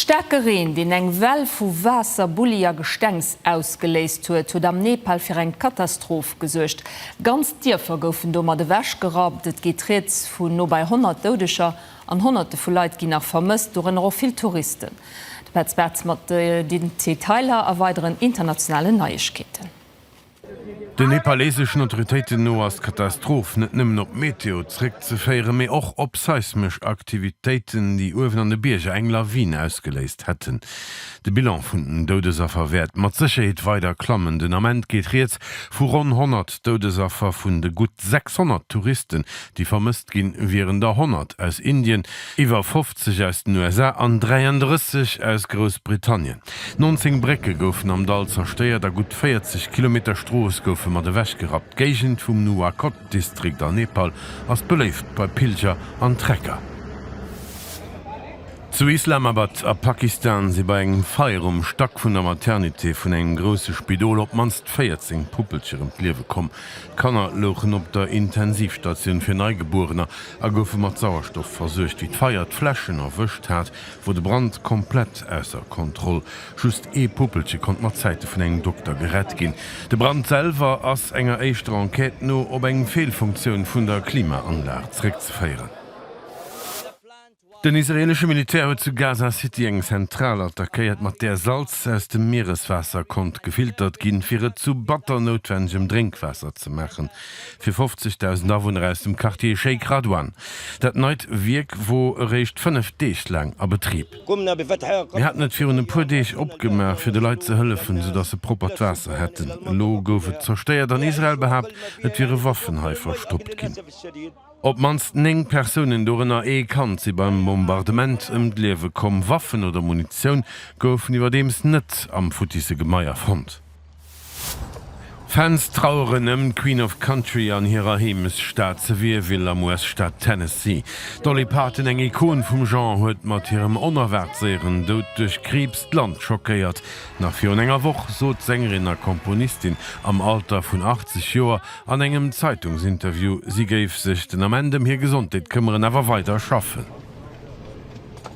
Staarke Reen, deen eng Well vu Waasser, Bulli a Gestengs ausgeléist huet, huet am Nepal fir eng Katastroph gesuergt. Ganz Dierfer goufen domat ewechgerappt. Et geet rieds vu no bei 100 Doudeger an Honnerte vu Leit ginn nach vermësst, dorënner och vill Touristen. De Petz Bartz mat den Detailer a weideren internationalen Neiegkeeten. Den nepaleseschen Autoritéiten no ass d'Katastroph net nëmmen op Meteo zeréckzeféieren, mee och op seismesch Aktivitéiten, déi uewen an de Bierger eng Lawin ausgeléist hätten. De Bilan vun den Doudesaffer wäert mat Sécherheet weider klammen. Den Ament geet rieds vu ronn 100 Doudesaffer. Vun de gutt 600 Touristen, déi vermësst ginn, wieren der 100 aus Indien. Iwwer 180 aus den USA an 33 aus Groussbritannien. 19 Brécke goufen am Dall zerstéiert a gutt 40 Kilometer Strooss goufe mat ewechgerappt. D'Géigend vum Nuwakot-Distrikt an Nepal ass beléift bei Pilger an Trekker. Zu Islamabad a Pakistan si bei engem Feier um Stack vun der Maternité vun engem grousse Spidol op d'mannst 14 Puppelcher ëm d'Liewe komm. D'Kanner louchen op der Intensivstatioun fir Neigebuerener, a goufe mat Sauerstoff versuergt. Wéi d'Feier d'Fläschen erwëscht hat, wor de Brand komplett ausser Kontroll. Just ee Puppelche konnt mat Zäite vun engem Dokter gerett ginn. De Brand selwer ass enger éischter Enquête no op eng Feelfunktioun vun der Klimaanlag zeréckzeféieren. Den israeelesche Militär huet zu Gaza City eng Zentral attackéiert, mat där Salz aus dem Miereswaasser konnt gefiltert ginn, fir et zu batter noutwennegem Drénkwaasser ze maachen, fir 50.000 Awunner aus dem Quartier Sheikh Radwan. Dat neit Wierk wor eréischt fënnef Deeg laang a Betrib. Mir haten et virun e puer Deeg opgemaach, fir de Leit ze hëllefen, soudatt se proppert Waasser hätten. Elo gouf et zerstéiert an Israel behaapt, et wiere Waffen hei verstoppt ginn. Op d'mannst 9 Persounen, dorënner ee Kand, si beim Bombardement ëm d'Liewe komm. Waffen oder Munitioun goufen iwwerdeems net am futtisse Gemaier fonnt. Fans traueren ëm d'Queen of Country an hirer Heemechtsstad Sevierville am US-Staat Tennessee. D'Dolly Parton, eng Ikon vum Genre, huet mat hirem onerwaart séieren Doud duerch Kriibs d'Land schockéiert. Nach virun enger Woch sot d'Sängerin a Komponistin am Alter vun 80 Joer An engem Zeitungsinterview, si géif sech den Ament ëm hir Gesondheet këmmeren, awer weider schaffen.